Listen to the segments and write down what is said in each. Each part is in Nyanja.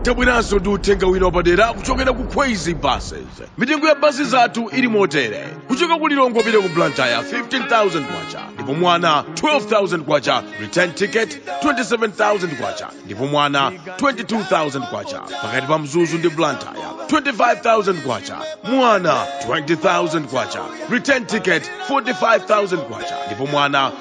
tabweranso ndi uthenga wina wapadera kuchokera ku kwezy buses mitengo ya basi zathu ili motere kuchoka ku lilongwe kupita ku blantyre 15000 kwacha ndipo mwana 12000 kwacha return ticket 27000 kwacha ndipo mwana 22000 kwacha pakati pa mzuzu ndi blantyre 25000 kwacha mwana 20000 kwacha return ticket 45000 kwacha ndipo mwana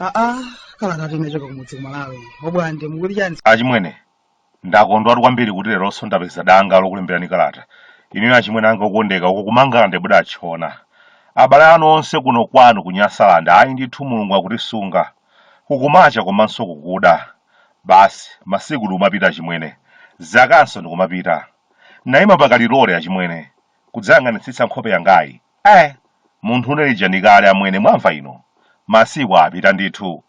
aa kalatatu inachoka kumudzi kumalawi obwande mukuti chani achimwene Ndakondwatu kwambiri kuti leronso ndapeza danga lokulembirani kalata. Inuyo achimwene anga okondeka, uko ku Mangalande mudatchona. Abale anu onse kuno kwanu ku Nyasalande, ayi ndithu Mulungu akutisunga. Kukumacha komanso kukuda. Basi, masiku ndikumapita achimwene. Zakanso ndikumapita. Ndinayima pa kalilole, achimwene, kudzayang'anitsitsa nkhope yangayi. Eh! Munthune lija ndi kale amwene, mwamva inu? Masiku apita ndithu.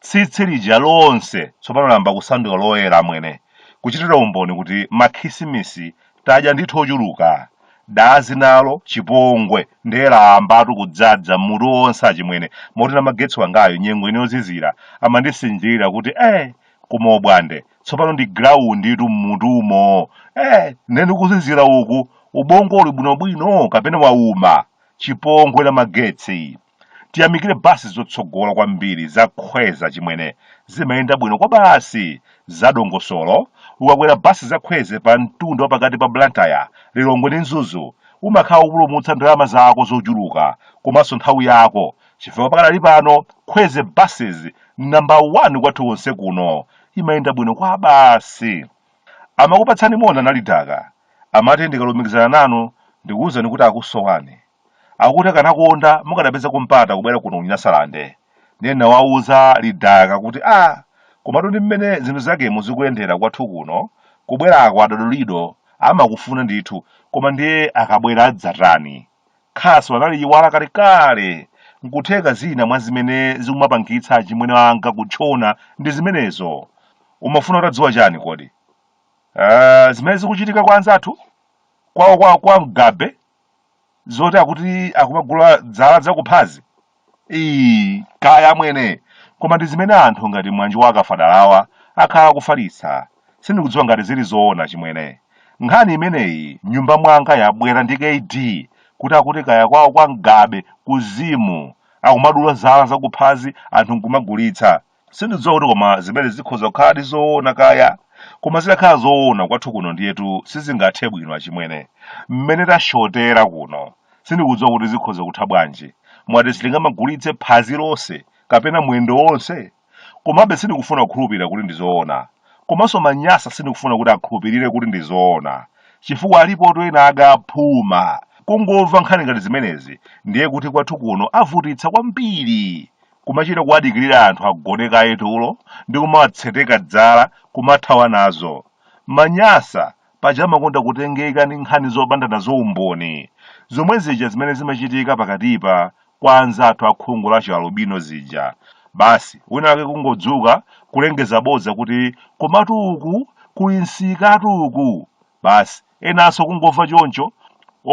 Tsitsi lija lonse tsopano layamba kusanduka loyera amwene, kuchitira umboni kuti makhisimisi tadya ndithu ochuluka. Dazi nalo, chipongwe, ndiye layambatu kudzadza m'mutu wonse achimwene, moti Namagetsi wangayu nyengo ino yozizira amandisinjirira kuti, Eh, koma obwande, tsopano ndi grounditu m'mutumo! Eh, ndiye ndi kuzizira uku, ubongo uli bwinobwino kapena wauma? Chipongwe Namagetsi! Tiyamikire basi zotsogola kwambiri za Kwezy achimwene zimayenda bwino kwabasi zadongosolo ukakwera basi za Kwezy pa mtunda wapakati pa Blantyre, Lilongwe ndi Mzuzu umakhala ukupulumutsa ndalama zako zochuluka komanso nthawi yako chifukwa pakadali pano Kwezy buses number 1 kwathu konse kuno imayenda bwino kwabasi. Amakupatsani moni analidaka amati ndikalumikizana nanu ndikuwuzani kuti akusowani. akuti akanakonda mukadapezako mpata kubwera kuno kunyasalande ndiye nawauza lidaka kuti a ah, komatu ndi mmene zinthu zakemu zikuyendera kwathu kuno kubwerako adodolido amakufuna ndithu koma ndiye akabwera adzatani khasu analiiwala kalekale nkutheka zina mwa zimene zikumapangitsa achimwene anga kutchona ndi zimenezo umafuna utadziwa chani kodi uh, zimene zikuchitika kwa anzathu kwawo kwa, kwa mgabe zoti akuti akumagula zala zakuphazi ii kaya amwene koma ndi zimene anthu ngati mwanjo wa akafadalawa akhala akufalitsa sindikudziwa ngati zili zoona chimwene nkhani imeneyi mnyumba mwanga yabwera ndi kd kuti akuti kaya kwawo kwa mgabe ku zim akumadula zala zakuphazi anthu nkumagulitsa sindidziwa kuti koma zimene zikhoza kukhaladi zoona kaya koma zitakhala zoona kwathu kuno ndiyetu sizingathe bwino achimwene mmene tashotera kuno sindikudziwa kuti zikhoza kutha bwanji mwati sitingamagulitse phazi lonse kapena mwendo wonse komabe sindikufuna kukhulupirira kuti ndizoona komanso manyasa sindikufuna kuti akhulupirire kuti ndizoona chifukwa alipoto ena agaphuma kungomva nkhani ngati zimenezi ndiye kuti kwathu kuno avutitsa kwambiri kumachita kuwadikirira anthu agone kaye tulo ndi kumawatseteka dzala kumathawa nazo. Manyasa paja amakonda kutengeka ndi nkhani zopanda nazo umboni, zomwe zija zimene zimachitika pakatipa kwa anzathu akhungu la chialubino zija. Basi wina wake kungodzuka kulengeza bodza kuti komatu uku kuli msikatu uku. Basi, enanso kungomva choncho,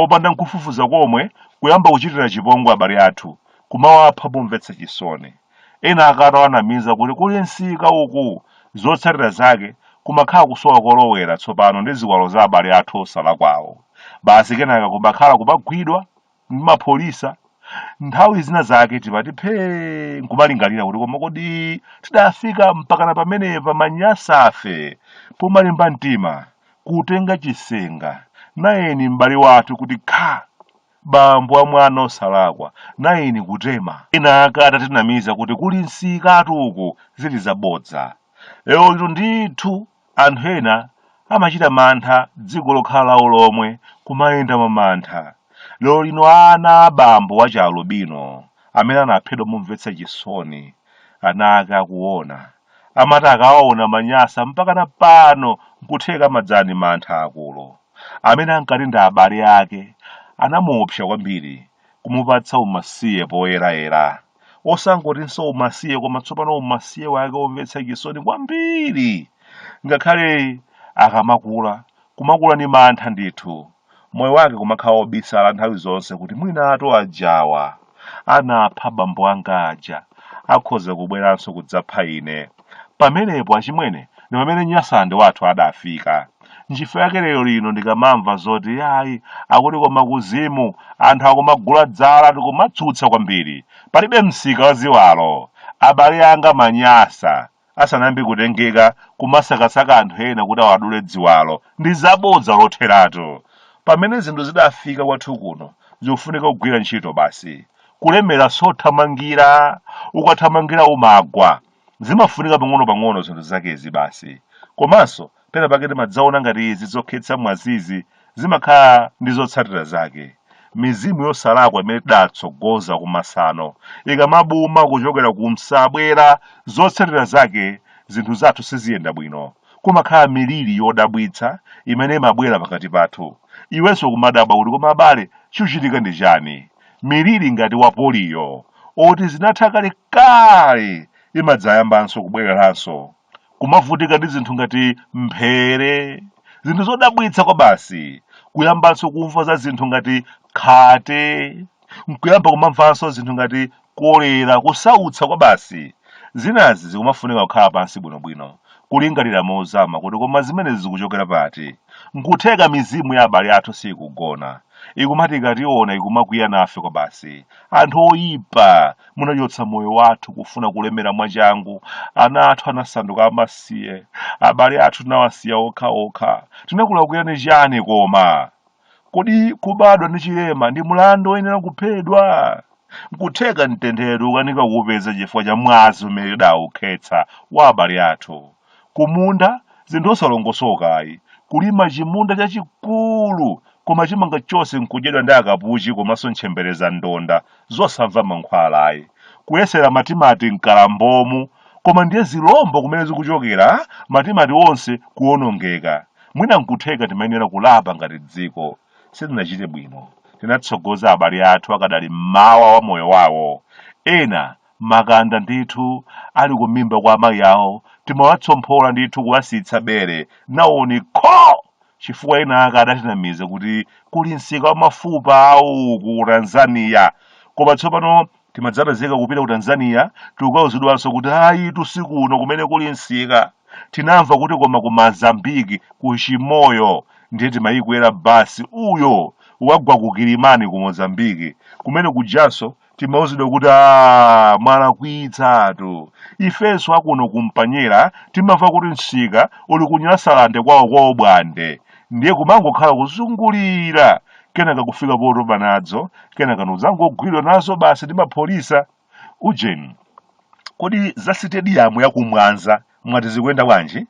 opanda nkufufuza komwe, kuyamba kuchitira chipongwe abale athu, kumawapha momvetsa chisoni. Ena ake atawanamiza kuti kuli msika uku! Zotsatira zake, kumakhala kusowa kolowera tsopano ndi ziwalo za abale athu osalakwawo. Basi kenaka kumakhala kumagwidwa! m'mapholisa nthawi zina zake timati phee nkumalingalira kuti koma kodi tidafika mpakana pamenepa manyasafe pomalimba mtima kutenga chisenga nayeni m'bale wathu kuti kha bambo wa mwana osalakwa nayeni kutema ena ake atatinamiza kuti kuli msikatu uku zili zabodza zokhazokha ndithu Anthu ena amachita mantha dziko lokhala lawo lomwe kumayenda mwa mantha. Lero lino ana a bambo wa chialubino amene anaphedwa momvetsa chisoni ana ake akuona amati akaona manyasa mpakana pano n'kutheka amadzazidwa ndi mantha aakulu. Amene ankati ndi abale ake anamuopsa kwambiri kumupatsa umasiye poyerayera. osangotinso umasiye koma tsopano umasiye wake womvetsa chisoni kwambiri ngakhale akamakula kumakula ni mantha ndithu moyo wake kumakhala wobisala nthawi zonse kuti mwinatu ajawa anapha bambo anga aja akhoza kubweranso kudzapha ine Pamenepo achimwene ndi pamene Nyasalande wathu adafika. Nchifukwa chake lero lino ndikamamva zoti yayi akuti koma kuzimu anthu akumagula dzala ndikumatsutsa kwambiri. Palibe msika wa ziwalo. Abale anga Manyasa asanayambe kutengeka kumasakasaka anthu ena kuti awadule dziwalo ndi zabodza lotheratu. Pamene zinthu zidafika kwathu kuno zikufunika kugwira ntchito basi. kulemera sothamangira ukathamangira umagwa zimafunika pang'ono-pang'ono zinthu zakezi basi komanso pena pake timadzaona ngati izi zokhetsa mwazizi zimakhala ndi zotsatira zake mizimu yosalakwa imene tidatsogoza kumasano ikamabuma kuchokera kumsabwera zotsatira zake zinthu zathu siziyenda bwino kumakhala miliri yodabwitsa imene imabwera pakati pathu iwenso kumadabwa kuti koma abale chikuchitika ndi chani miliri ngati wa poliyo oti inatha kale kale imadzayambanso kubwereranso kumavutika ndi zinthu ngati mphere zinthu zodabwitsa kwabasi kuyambanso kumva za zinthu ngati khate nkuyamba kumamvanso zinthu ngati kolera, kusautsa kwabasi. Zinazi zikumafunika kukhala pansi bwinobwino, kulingalira mozama kuti koma zimenezi zikuchokera pati. N'kutheka mizimu ya abale athu siikugona, ikumati ikationa ikumakwiya nafe kwabasi. Anthu oipa, munachotsa moyo wathu kufuna kulemera mwachangu, ana athu anasanduka amasiye, abale athu tinawasiya okhaokha. Tinakulakwirani chani koma? Kodi kubadwa ndi chilema ndi mlandu woyenera kuphedwa? Nkutheka mtendere ukukanika kuupeza chifukwa cha mwazi umene tidaukhetsa wa abale athu. Kumunda, zinthu zosalongosoka ayi. Kulima chimunda chachikulu koma chimanga chonse nkudyedwa ndi akapuchi komanso ntchembere zandonda zosamva mankhwala ayi. Kuyesera matimati m'madambomu koma ndiye zilombo kumene zikuchokera, matimati onse kuonongeka. mwina nkutheka timayenera kulapa ngati dziko sitinachite bwino tinatsogoza abale athu akadali mmawa wa moyo wawo ena makanda ndithu ali kumiyendo kwa amayi awo timawatsomphola ndithu kuwasiyitsa bere nawo nkho chifukwa enaake adatinamiza kuti kuli msika wa mafupa awo ku tanzania koma tsopano timadzapezeka kupita ku tanzania tikauzidwanso kuti ayitu si kuno kumene kuli msika tinamva kuti koma ku mozambiki ku chimoyo ndiye timayikwera basi uyo wagwa ku kilimani ku mozambiki kumene kujanso timauzidwa kuti a mwalakwitsatu ifenso akuno kumpanyera timamva kuti msika uli kunyasalande kwawo kwa obwande ndiye kumangokhala kuzungulira kenaka kufika potopa nazo kenaka nkudzangogwidwa nazo basi ndi apolisi ujeni kodi za sitediyamu yakumwanza mwati zikuyenda bwanji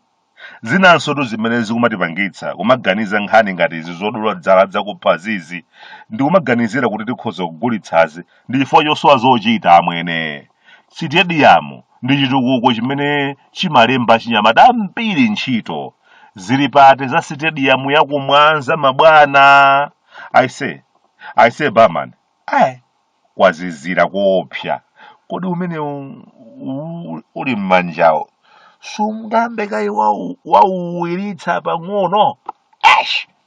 zinansotu zimene zikumatipangitsa kumaganiza nkhani ngati izi zodula zala zakuphazizi ndikumaganizira kuti tikhoza kugulitsazi ndi chifukwa chosowa zochita amwene Sitediyamu ndi chitukuko chimene chimalemba achinyamata ambiri ntchito. Zili pati za sitediyamu ya ku Mwanza mabwana? Aise, aise barman, ayi kwazizira koopsa. Kodi umenewu u- uli m'manjawo sungambe kaye wau- wauwiritsa pang'ono? Eish!